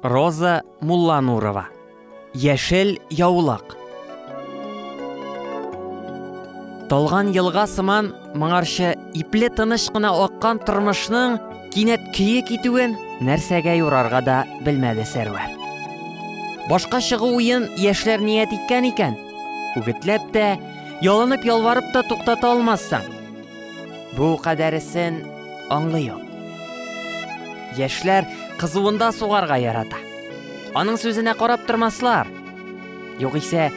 Роза Мулланурова. Яшел яулык. Талган елга сыман моңарча ипле тыныч кына аккан тормышның кинәт көе китүен нәрсәгә юрарга да белмәде Сәрвәр. Башка чыгу уен яшьләр ният иткән икән, үгетләп тә, ялынып-ялварып та туктата алмассың. Бу кадәресен аңлыйм. Яшьләр кызуында сугарга ярата. Аның сүзенә карап тормаслар. Югыйсә,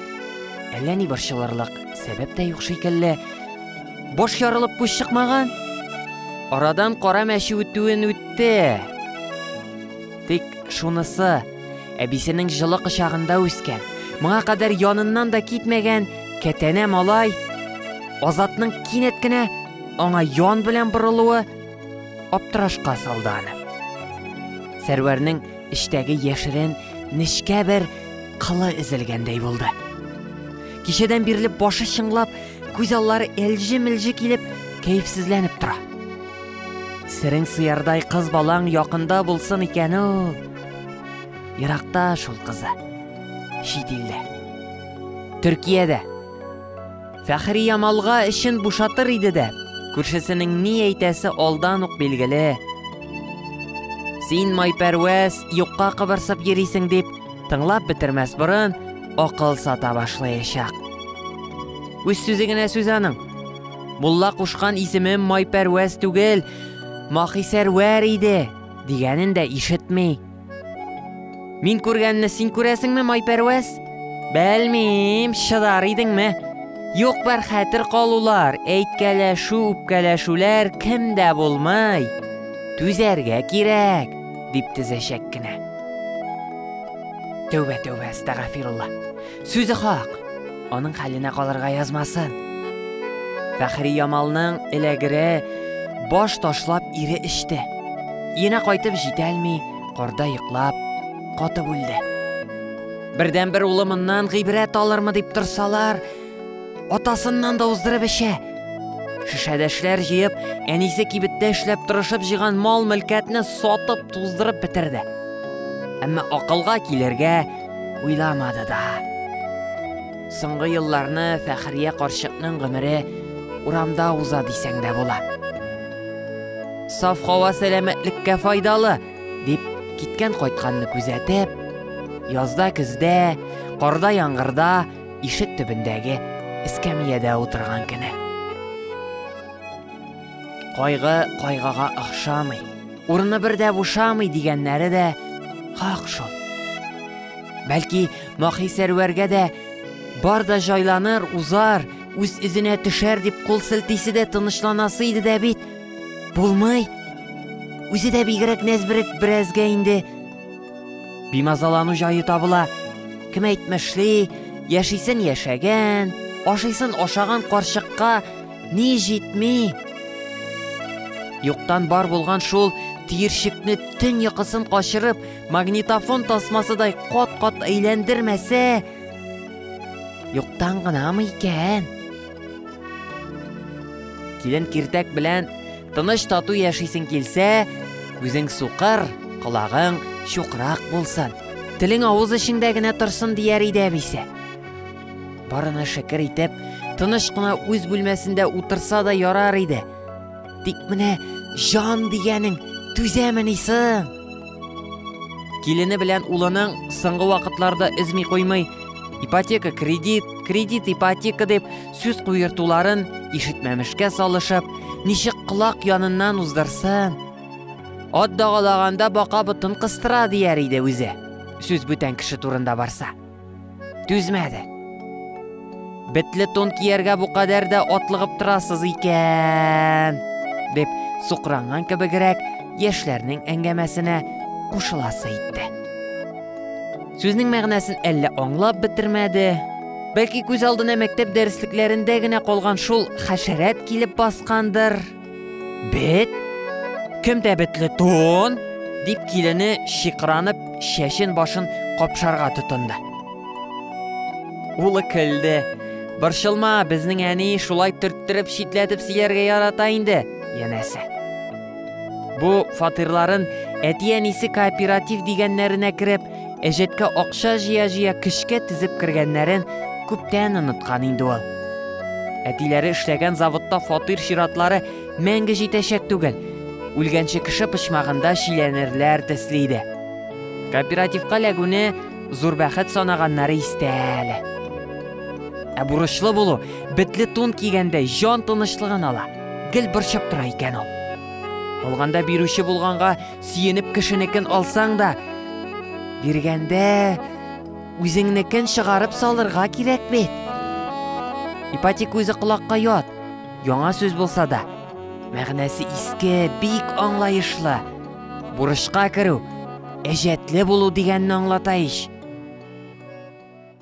әллә ни борчылырлык сәбәп тә юк шикелле. Баш ярылып күз чыкмаган. Арадан кара мәче үтүен үтте. Тик шунысы, әбисенең җылы кочагында үскән, моңа кадәр яныннан да китмәгән кәтәнә малай Азатның кинәт кенә аңа ян белән борылуы аптырашка салды аны. Сәрвәрнең эчтәге яшерен нечкә бер кылы эзелгәндәй булды. Кичәдән бирле башы чыңлап, күз аллары элҗе-мелҗе килеп, кәефсезләнеп тора. Сирең сыярдай кыз балаң якында булсын икән ул. Еракта шул кызы. Чит илдә. Төркиядә. Фәхрия малга эчен бушатыр иде дә, күршесенең ни әйтәсе алдан ук билгеле. Син майпәрвәз, юкка кыбырсып йөрисең дип, тыңлап бетермәс борын, акыл сата башлаячак. Үз сүзе генә сүз аның. Мулла кушкан исемем майпәрвәз түгел, махисәрвәр иде, дигәнен дә ишетми. Мин күргәнне син күрәсеңме, Майпәрвәз? Белмим, шыдар идеңме? Юк бар хәтер калулар, әйткәләшү, үпкәләшүләр кемдә булмай. Түзәргә кирәк, дип тезәчәк кенә. Тәүбә, тәүбә, әстәгафирулла. Сүзе хак. Аның хәленә калырга язмасын. Фәхри Ямалның эләгере баш ташлап ире эчте. Ена кайтып җитәлми, корда йоклап, каты бүлде. Бердән бер улы моннан гыйбрәт алырмы дип торсалар, атасыннан да уздырып эчә. Шешәдәшләр җыеп, әнисе кибеттә эшләп тырышып җыган мал-мөлкәтне сатып, туздырып бетерде. Әмма акылга килергә Уйламады да. Соңгы елларны Фәхрия карчыкның гомере урамда уза дисәң дә була. Саф һава сәламәтлеккә файдалы, дип киткән кайтканны күзәтеп, язда көздә, карда яңгырда ишек төбендәге эскәмиядә утырган кенә. Кайгы кайгага охшамый, урыны бер дә бушамый дигәннәре дә хак шул. Бәлки, Махи Сәрвәргә дә бар да җайланыр, узар, үз эзенә төшәр дип кул селтисе дә тынычланасы иде дә бит. Булмый. Үзе дә бигрәк нәзберек берәзгә инде. Бимазалану җае табыла. Кем әйтмешли, яшисен яшәгән, ашыйсын ашаган карчыкка Ни җитми? Юктан бар булган шул тиершекне төн йокысын качырып, магнитофон тасмасыдай кат-кат әйләндермәсә, юктан гынамы икән? Килен киртәк белән тыныч тату яшисең килсә, үзең сукыр, колагың чукрак булсын. Телең авыз эчеңдә генә торсын дияр иде әбисә. Барына шәкер итеп, тыныч кына үз бүлмәсендә утырса да ярар иде. Тик менә җан дигәнең түзәмени соң? Килене белән улының соңгы вакытларда өзми куймый, ипотека кредит, кредит ипотека дип сүз куертуларын ишетмәмешкә салышып, ничек колак яныннан уздырсын. Ат дагалаганда бака ботын кыстыра дияр иде үзе. Сүз бүтән кеше турында барса. Түзмәде. Бетле тон кияргә бу кадәр дә атлыгып торасыз икән, дип сукранган кебегрәк яшьләрнең әңгәмәсенә кушыласы итте. Сүзнең мәгънәсен әллә аңлап бетермәде, бәлки күз алдына мәктәп дәреслекләрендә генә калган шул хәшәрәт килеп баскандыр. Бет? Кемдә бетле тон? дип килене шикранып, шәшен башын капшарга тотынды. Улы көлде. Борчылма, безнең әни шулай төрттереп шитләтеп сөйләргә ярата инде, янәсе. Бу фатирларын әти-әнисе кооператив дигәннәренә кереп, Әҗәткә акча җыя-җыя көчкә тезеп кергәннәрен күптән оныткан инде ул. Әтиләре эшләгән заводта фатир чиратлары мәңге җитәчәк түгел. Үлгәнче кеше почмагында чиләнерләр төсле иде. Кооперативка ләгүне зур бәхет санаганнары истә әле. Ә бурычлы булу, бетле тун кигәндә җан тынычлыгын ала, гел борчып тора икән ул. Алганда бирүче булганга Сөенеп кешенекен алсаң да, биргәндә үзеңнекен чыгарып салырга кирәк бит. Ипатик үзе колакка ят, яңа сүз булса да, мәгънәсе иске, бик аңлаешлы. Бурычка керү, әҗәтле булу дигәнне аңлата ич.